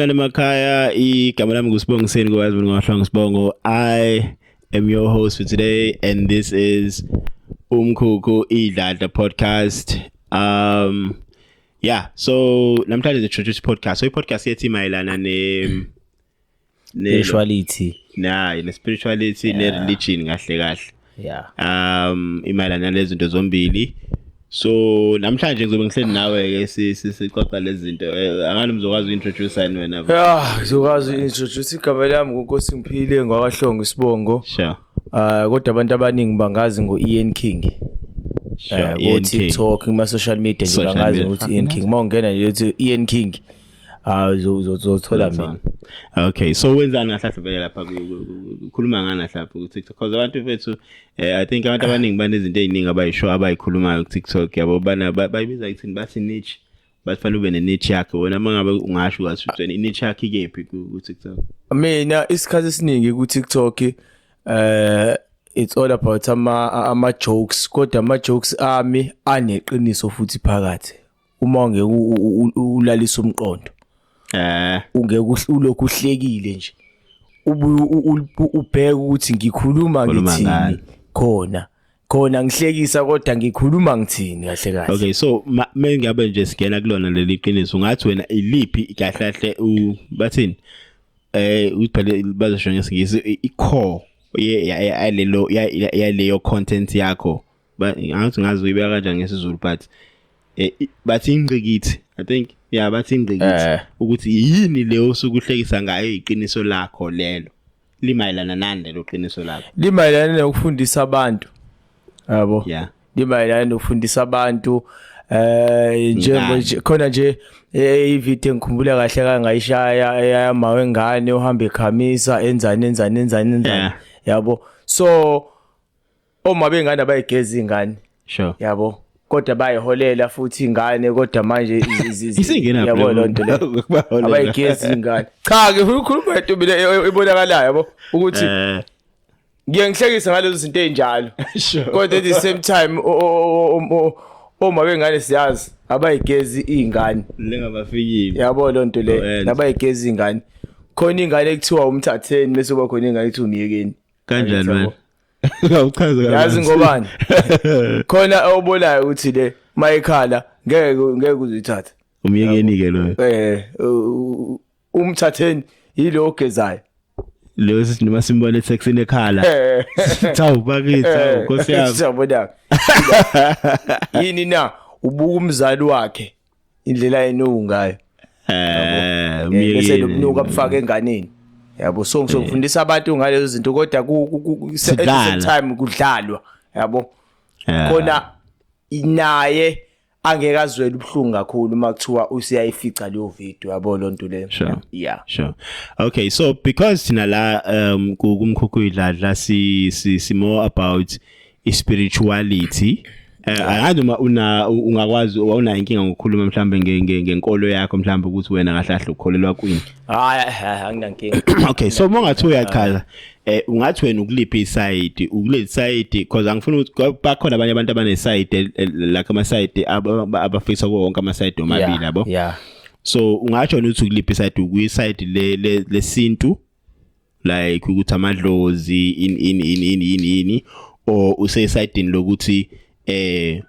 Sale makhaya igama lami nguSibongiseni kwazi mina ngahlanga Sibongo. I am your host for today and this is Umkhukhu Idlada podcast. Um yeah, so namhlanje introduce podcast. So i-podcast yethi mayelana ne ne spirituality. Nah, ne spirituality ne religion kahle kahle. yeah um imayelana lezinto zombili so namhlanje ngizobe ngihleli nawe ke sixoxa lezi zinto eh, angani mzokwazi uintroduce yini wena yeah ngizokwazi uintroduce igama lami ngunkosi ngiphile ngwakahlongo isibongo sure uh kodwa abantu abaningi bangazi ngo Ian King eh, e ku TikTok kuma social media nje bangazi ukuthi Ian King mawungena nje uthi Ian King Ah uzothola mina. Okay so wenzani ngahlahle vele lapha ukhuluma ngani lapha ku TikTok because abantu bethu eh, I think abantu abaningi banezinto eziningi abayisho abayikhulumayo ku TikTok yabo bana bayibiza ithini bathi niche bafanele ube ne niche yakhe wena mangabe ungasho kathi utheni niche yakhe ikephi ku TikTok. Mina isikhathi esiningi ku TikTok eh it's all about ama ama jokes kodwa ama jokes ami aneqiniso futhi phakathi uma ngeke ulalisa umqondo eh ungeke ulokhu uhlekile nje ubheke ukuthi ngikhuluma ngithini khona khona ngihlekisa kodwa ngikhuluma ngithini kahle kahle okay so me ngabe nje singena kulona leli qiniso ngathi wena iliphi kahle kahle u bathini eh uphele bazosho ngesingisi i-core yalelo yaleyo content yakho angathi ngazi uyibeka kanjani ngesizulu but eh, bathi ingqikithi i think yeah bathi ingqikithi eh. ukuthi yini leyo osuke uhlekisa ngayo iqiniso lakho lelo limayelana nani lelo qiniso lakho limayelana nokufundisa abantu yabo yeah limayelana nokufundisa abantu eh njengo khona nje eh, ivideo engikhumbula kahle kangayishaya eyamawe ngane uhamba ekhamisa enzani enzani enzani enzani yabo so Oma bengane abayigeza ingane. Sure. Yabo. Kodwa bayiholela futhi ingane kodwa manje isingena yabo lonto le. Abayigeza ingane. Cha ke ukhuluma into mina e- e- ebonakalayo yabo ukuthi eh. ngiyangihlekisa ngalezo zinto ezinjalo. Kodwa at the same time Oma bengane siyazi abayigezi izingane. Lengabafikile. Yabo lonto le. Oh, Nabayigezi izingane. Khona ingane ekuthiwa umthatheni bese kuba khona ingane ekuthiwa umyekeni. Kanjani wena? Ngawuchaza kahle. Yazi ngobani? Khona obolayo ukuthi le mayikhala ngeke ngeke uzithathe. Umyekeni ke lo. Eh umthatheni yilo ogezayo. Lo sithi noma simbona ethexini ekhala. Eh. Thawu bakithi, thawu eh. Nkosi yami. Siyabona. Yini na? Ubuka umzali wakhe. indlela ayenuku ngayo eh bese nokunuka bufaka enganeni yabo so ngizofundisa abantu ngalezo zinto kodwa ku same time kudlalwa yabo khona naye angeke azwele ubuhlungu kakhulu uma kuthiwa usiyayifica leyo video yabo lonto le sure. yeah sure okay so because thina la um kumkhukhu idladla si si more about ispirituality eh, angazi uma una ungakwazi wawunayo inkinga ngokukhuluma mhlambe nge- nge- ngenkolo yakho mhlambe ukuthi wena kahle kahle ukholelwa kwini hayi hayi, anginankinga okay so uma ungathi uyachaza eh ungathi wena ukuliphi isayidi ukuleli sayidi because angifuni ukuthi kwa- bakhona abanye abantu abanesayidi el- el- like amasayidi ab- ab- abafisa kuwo wonke amasayidi omabili Yeah, yabo yeah so ungatsho wena ukuthi ukuliphi isayidi ukuyisayidi le- le- lesintu like ukuthi amadlozi in in in in in yini or usesayidini lokuthi eh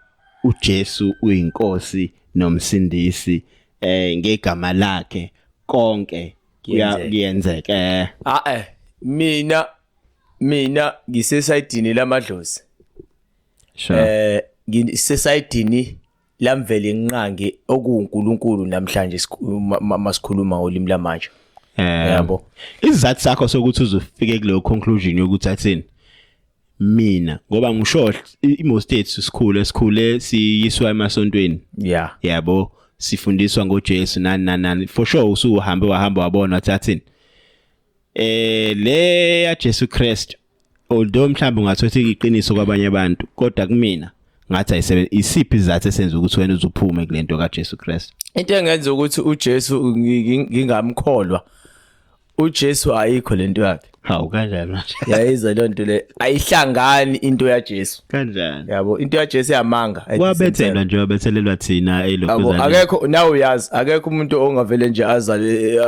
uJesu uyinkosi nomsindisi eh ngegama lakhe konke kuyenzeka eh. ah eh mina mina ngisesayidini lamadlozi sure eh ngisesayidini lamvela inqangi okuwuNkulunkulu namhlanje masikhuluma ulimi lamanje eh, yabo isizathu sakho sokuthi uzofike kuleyo conclusion yokuthi athini mina ngoba ngisho imo states sikhule sikhule siyiswa emasontweni yeah yabo sifundiswa ngoJesu nani nani nani for sure usuhambe wahamba wabona wathathini eh le ya Jesu Christ although mhlawumbe ungathi uthi iqiniso kwabanye abantu kodwa kumina ngathi ayisebenzi isiphi izathu esenza ukuthi wena uzuphume kulento kaJesu Christ into engenza ukuthi uJesu ngingamkholwa uJesu ayikho lento yakhe hawu kanjani manje yayizwa leyo nto le ayihlangani into yaJesu kanjani yabo into yaJesu yamanga wabethelwa nje wabethelelwa thina elokuzana akekho nawe uyazi akekho umuntu ongavele nje azale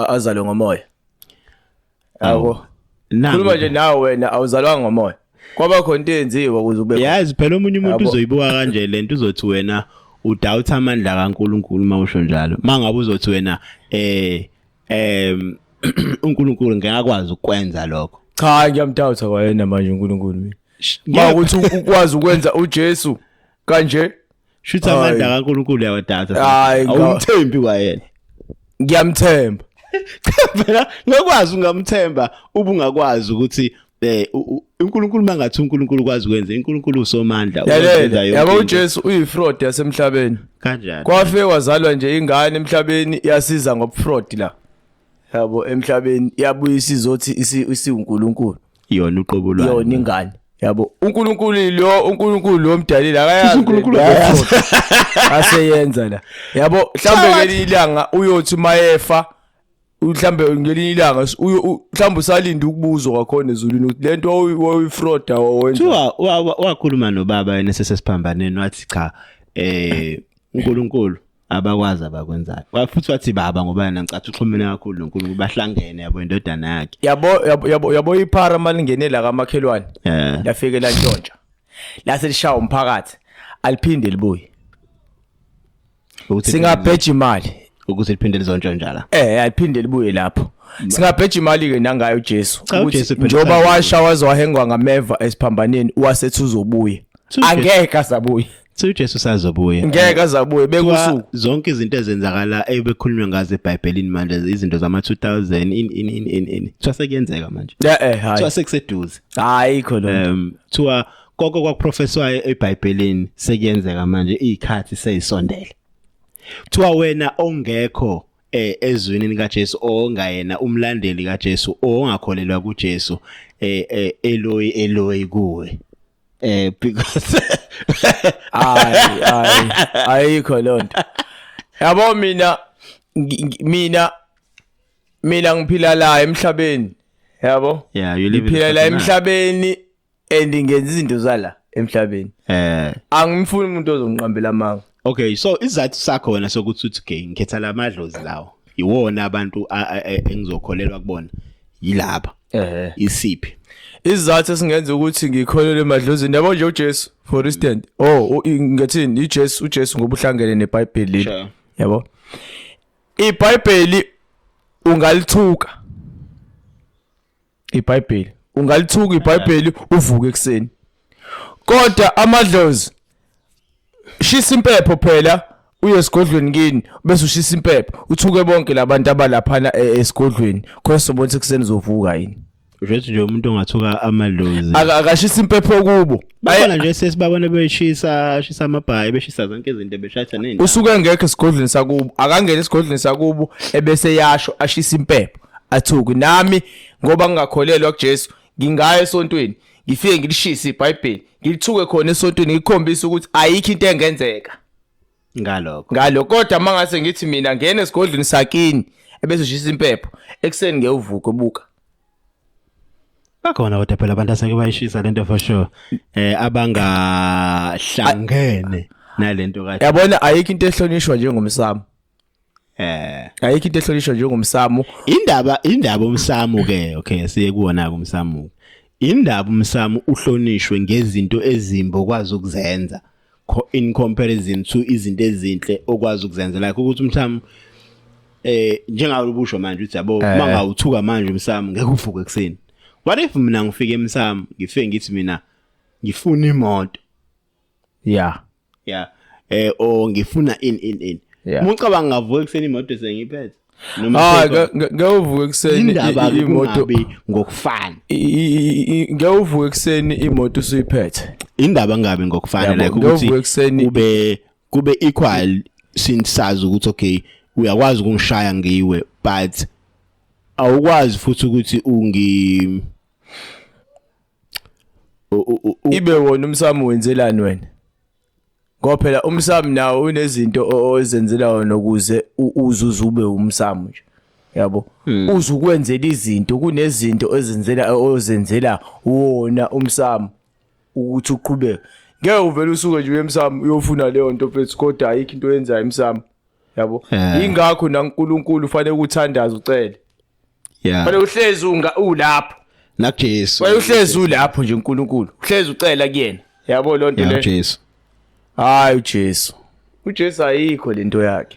azale ngomoya Yabo. Khuluma nje nawe wena awuzalwanga ngomoya. Kwaba khona into eyenziwa ukuze ube. Yazi phela omunye umuntu uzoyibuka kanje lento uzothi wena udoubt amandla kaNkuluNkulu mawusho njalo. Mangabe uzothi wena eh em uNkulunkulu ngeke akwazi ukwenza lokho. Cha ngiyamdoubt kwayena manje uNkulunkulu mina. Makuthi ukwazi ukwenza uJesu kanje shuthi amandla kaNkulunkulu yawadata hayi awumthembi kwayena ngiyamthemba cha phela ngokwazi ungamthemba ubungakwazi ukuthi eh uNkulunkulu mangathi uNkulunkulu kwazi ukwenza uNkulunkulu usomandla uyenza yonke yabo uJesu uyifraud yasemhlabeni kanjani kwafe wazalwa nje ingane emhlabeni yasiza ngobufraud la yabo emhlabeni yabuye isizothi isi- isiwunkulunkulu yona uqobo lwayo yona ingane yabo unkulunkulu lo unkulunkulu lo mdalile Cishe uNkulunkulu akayazi akayazi. aseyenza la yabo mhlawumbe ngelinye ilanga uyothi mayefa mhlawumbe ngelinye ilanga s- uyo- u- mhlawumbe usalinde ukubuzwa kwakhona ezulwini ukuthi le nto wawu- wawuyifroda wawenza kuthiwa wa- wa- wakhuluma nobaba yena sesesiphambaneni wathi cha eh uNkulunkulu abakwazi abakwenzayo futhi wathi baba ngoba yena ngicathi uxhumene kakhulu noNkulunkulu bahlangene yabo indodana yakhe yabo yabo yabo iphara malingene la kamakhelwane eh. lafike la ntshontsha lase lishaya umphakathi aliphinde libuye singabheja imali ukuthi liphinde lizontshontsha la eh aliphinde libuye lapho singabheja imali ke nangayo uJesu ukuthi njoba washa wazwahengwa ngameva esiphambaneni wasethi uzobuye angeke asabuye So uJesu sazobuya. Ngeke azabuye bekusuku. Zonke izinto ezenzakala ebekhulunywa ngazo eBhayibhelini manje izinto zama 2000 in in in in in. Kuthiwa sekuyenzeka manje. Yeah eh hayi. Kuthiwa sekuseduze. Hayi khona. Um kuthiwa konke kwakuprofeswayo eBhayibhelini sekuyenzeka manje izikhathi seyisondele. Kuthiwa wena ongekho eh ezwini lika Jesu ongayena umlandeli ka Jesu ongakholelwa ku Jesu eh, eh Eloi Eloi kuwe eh because ay ay ayikho lonto yabo mina mina mina ngiphila la emhlabeni yabo yeah you live phila la emhlabeni and ngenza izinto zala emhlabeni eh angimfuni umuntu ozongiqambela amanga Okay so isizathu sakho wena sokuthi uthi okay ngikhetha la madlozi lawo iwona abantu engizokholelwa kubona yilaba ehe isiphi isizathu esingenza ukuthi ngikholelwe emadlozini yabo nje uJesu for instance oh ngathini iJesu uJesu ngobuhlangene neBhayibheli yabo iBhayibheli ungalithuka iBhayibheli ungalithuka iBhayibheli uvuke ekseni kodwa amadlozi shisa impepho phela uye esigodlweni kini bese ushisa impepho uthuke bonke labantu abalaphana e- esigodlweni khona sobona sekuseni uzovuka yini Ujethi nje umuntu ongathuka amadlozi. Aka- akashisa impepho kubo bakhona nje sesibabona beshisa shisa amabhayi beshisa zonke izinto beshatha nini usuke engekho esigodlweni sakubo akangena esigodlweni sakubo ebese yasho ashisa impepho athuki nami ngoba ngingakholelwa kuJesu ngingayo esontweni ngifike ngilishise iBhayibheli ngilithuke khona esontweni ngikhombisa ukuthi ayikho into engenzeka ngalokho ngalokho kodwa mangase ngithi mina ngene esigodlweni sakini ebese ushisa impepho ekuseni ngewuvuke buka bakhona kodwa phela abantu aseke bayishisa lento for sure eh abangahlangene nalento kahle yabona ayikho into ehlonishwa njengomsamo eh ayikho into ehlonishwa njengomsamo indaba indaba umsamo ke okay siye kuwona umsamo indaba umsamo uhlonishwe ngezinto ezimbo kwazi ukuzenza in comparison to izinto ezinhle okwazi ukuzenzela like ukuthi umsamo eh njengawe ubusho manje uthi yabo eh. mangawuthuka manje umsamo ngeke uvuke ekseni what if mina ngifike emsamo ngifike ngithi mina ngifuna imoto yeah yeah eh o ngifuna in in in mucabanga ngavuka ekseni imoto sengiphethe hayi ngewuvuka ekuseni indaba imoto ngokufana ngewuvuka ekuseni imoto usuyiphethe indaba ngabe ngokufana like ukuthi kube kube equal since sazi ukuthi okay uyakwazi ukungishaya ngiwe but awukwazi futhi ukuthi ungi ibe wona umsami wenzelani wena ngoba phela umsami nawo unezinto ozenzela wona ukuze uzuze ube umsami nje yabo hmm. uzukwenzela izinto kunezinto ezenzela ozenzela wona umsami ukuthi uqhubeke ngeke uvele usuke nje emsamo uyofuna leyo nto mfethu kodwa ayikho into oyenzayo emsamo yabo eh. ingakho naNkulunkulu ufanele ukuthandaza ucele yeah Phela uhlezi unga ulapho. nakuJesu Phela uhlezi ulapho nje uNkulunkulu. Uhlezi ucela kuyena. Yabo lonto yeah le. uJesu Hayi uJesu. UJesu ayikho lento yakhe.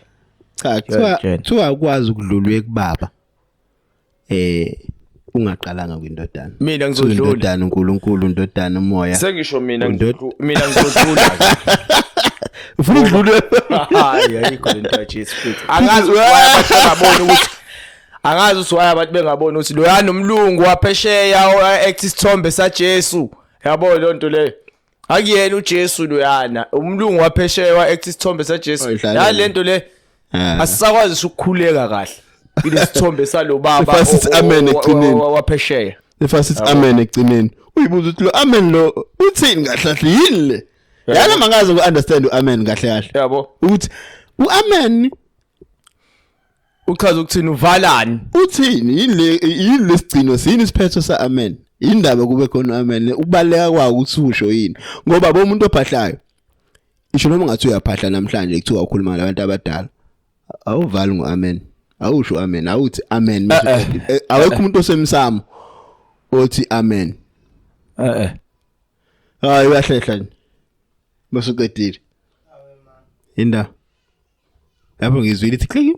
cha kuthiwa Ngiyakutshela. kuthiwa ukwazi ukudlula ekubaba eh ungaqalanga kwindodana Mina Kuthiwa ngizodlula. indodana uNkulunkulu indodana umoya Sengisho mina Undod- ngizodlula. Mina ngizodlula. ufuna ukudlula Hayi ayikho lento yaJesu futhi. Angazi wabona ukuthi angazi ukuthi why abantu bengaboni ukuthi loyana umlungu waphesheya oact isithombe saJesu yabo leyo nto leyo akuyena uJesu loyana umlungu waphesheya oact isithombe saJesu Oyidlalela. nalento le Ah. asisakwazi ngisho ukukhuleka kahle ilesithombe salobaba Sifase sithi o- o- amen o- o- ekugcineni. o- waphesheya Efa sithi amen ekugcineni. Uyibuza ukuthi lo amen lo uthini kahle kahle yini le? Yana mangaze ku understand uamen kahle kahle. yabo Ukuthi uamen uchaza ukuthini uvalani uthini yini le yini lesigcino sini isiphetho sa amen indaba kube khona amen ukubaleka kwawo ukuthi usho yini ngoba bomuntu ophahlayo isho noma ngathi uyaphahla namhlanje kuthiwa ukhuluma nabantu abadala awuvali ngo amen awusho amen awuthi amen eh, eh. Eh, awekho umuntu osemsamo othi amen eh eh hayi uyahlehla nje bese uqedile inda lapho ngizwile ithi click